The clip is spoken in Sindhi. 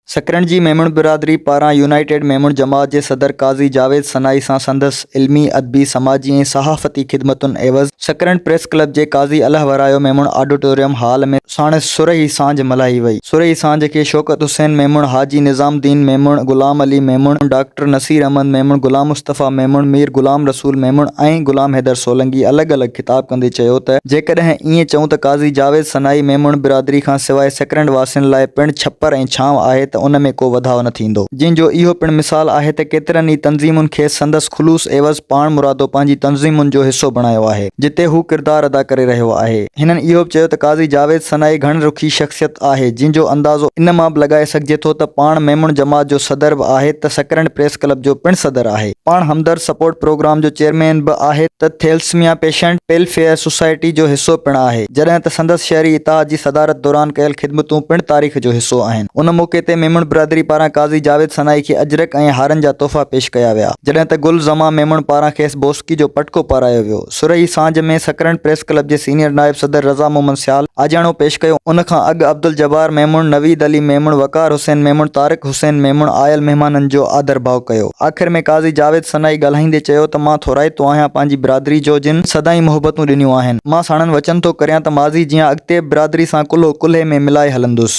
سڪرنڊ جي ميمڻ برادري پاران يونائيٽيڊ ميمڻ جماعت جي صدر قاضي جاويد سنائي سان سندس علمي، ادبي، سماجي ۽ صحافتي خدمتن عيوض سڪرنڊ پريس ڪلب جي قاضي الهه ورايو ميمڻ آڊٽوريم هال ۾ ساڻس سرهي سانجهه ملهائي وئي. سرهي سانجهه کي شوڪت حسين ميمڻ، حاجي نظام الدين ميمڻ، غلام علي ميمڻ، ڊاڪٽر نصير احمد ميمڻ، غلام مصطفيٰ ميمڻ، مير غلام رسول ميمڻ ۽ غلام حيدر سولنگي الڳ الڳ خطاب ڪندي چيو ته جيڪڏهن ائين چئون ته قاضي جاويد سنائي ميمڻ برادري کان سواء سڪرنڊ واسين لاء پڻ ڇپر ۽ ڇانو آهي ته ان ۾ ڪو وڌاء نه ٿيندو. جنهن جو اهو پڻ مثال آهي ته ڪيترن ئي تنظيمن کيس سندس خلوص عيوض پاڻ مرادو پنهنجي تنظيمن جو حصو بڻايو آهي، جتي هو ڪردار ادا ڪري رهيو آهي. هنن اهو به چيو ته قاضي جاويد سنائي گهڻ رخي شخصيت آهي، جنهن جو اندازو ان مان به لڳائي سگهجي ٿو ته پاڻ ميمڻ جماعت جو صدر به آهي ته سڪرنڊ پريس ڪلب جو پڻ صدر آهي. پاڻ همدرد سپورٽ پروگرام جو چيئرمين به آهي ته ٿيلسميا پيشنٽ ويلفيئر سوسائٽي جو حصو پڻ آهي، جڏهن ته سندس شهري اتحاد جي صدارت دوران ڪيل خدمتون پڻ تاريخ جو حصو آهن. ان موقعي تي ميمڻ برادري پاران قاضي جاويد سنائي کي اجرڪ ۽ هارن جا تحفا پيش ڪيا ويا، جڏهن ته گل زمان ميمڻ پاران کيس بوسڪي جو پٽڪو پارايو ويو. سرهي سانجهه ۾ سڪرنڊ پريس ڪلب جي سينيئر نائب صدر رضا محمد سيال آجياڻو پيش ڪيو، ان کان اڳ عبدالجبار ميمڻ، نويد علي ميمڻ، وقار حسين ميمڻ، طارق حسين ميمڻ آيل مهمانن جو آڌرڀاء ڪيو. آخر ۾ قاضي جاويد سنائي ڳالهائيندي چيو ته مان ٿورائتو آهيان پنهنجي برادري جو جن سدائين محبتون ڏنيون آهن، مان ساڻن وچن ٿو ڪريان ته ماضي جيان اڳتي به برادري سان ڪلهو ڪلهي ۾ ملائي هلندس.